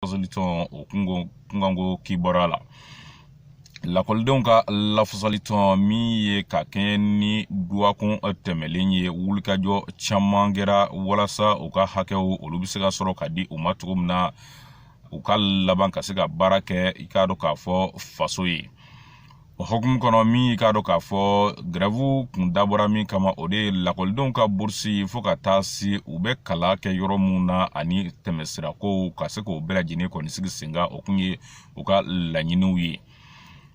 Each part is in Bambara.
lafasalitɔn o kunkanko kibaruya la lakɔlidenw ka lafasalitɔn min ye ka kɛɲɛ ni dɔgɔkun tɛmɛlen ye wulikajɔ caman kɛra walasa u ka hakɛw olu bɛ se ka sɔrɔ ka di u ma cogo min na u ka laban ka se ka baara kɛ i k'a dɔn k'a fɔ faso ye o hukumu kɔnɔ min k'a dɔn k'a fɔ gɛrɛvu kun dabɔra min kama o de ye lakɔlidenw ka burusi fo ka taa se u bɛ kalan kɛ yɔrɔ minnu na ani tɛmɛsirakow ka se k'o bɛɛ lajɛlen kɔni sigi sen kan o kun ye u ka laɲiniw ye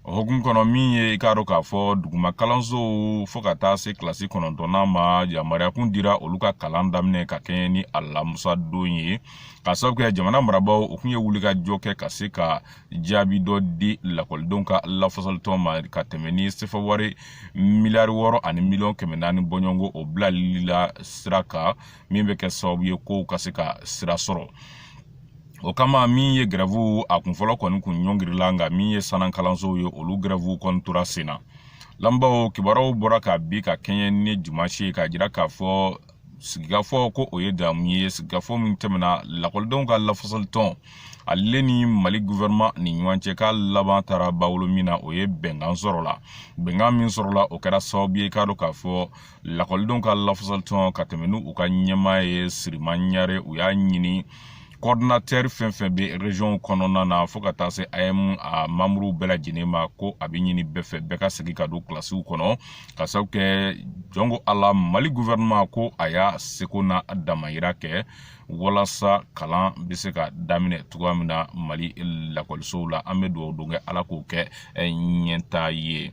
o hukumu kɔnɔ min ye i k'a dɔn k'a fɔ duguma kalansow fo ka taa se kilasi kɔnɔntɔnnan ma yamaruya kun dira olu ka kalan daminɛ ka kɛɲɛ ni alamusa don ye ka sababu kɛ jamana marabaaw u kun ye wulikajɔ kɛ ka se ka jaabi dɔ di lakɔlidenw ka lafasalitɔn ma ka tɛmɛ ni sefa wari miliyari wɔɔrɔ ani miliyɔn kɛmɛ naani bɔɲɔgɔnko o bilali la sira kan min bɛ kɛ sababu ye kow ka se ka sira sɔrɔ o kama min ye gɛrɛvu a kunfɔlɔ kɔni kun ɲɔngirila nka min ye sanna kalansow ye olu gɛrɛvu kɔni tora sen na lamɛnbaaw kibaruw bɔra kabi ka kɛɲɛ ni dimansi ye k'a jira k'a fɔ sigikafɔ ko o ye damu ye sigikafɔ min tɛmɛna lakɔlidenw ka lafasali tɔn ale ni mali guvɛrɛnman ni ɲɔgɔn cɛ k'a laban taara bawolo min na o ye bɛnkan sɔrɔla bɛnkan min sɔrɔla o kɛra sababu ye k'a dɔn k'a fɔ lakɔlidenw ka lafasali tɔn ka tɛmɛ n'u ka ɲɛmaa ye siriman ɲare u y'a ɲini kɔridinatɛri fɛn fɛn bɛ rezɔnw kɔnɔna na fo ka taa se am a mamuru bɛɛ lajɛlen ma ko a bɛ ɲini bɛɛ fɛ bɛɛ ka segin ka don kilasiw kɔnɔ ka sabu kɛ jɔn ko ala mali guvɛrɛnɛma ko a y'a seko n'a damayira kɛ walasa kalan bɛ se ka daminɛ cogoya min na mali lakɔlisow la an bɛ dugawu don kɛ ala k'o kɛ ɲɛtaa ye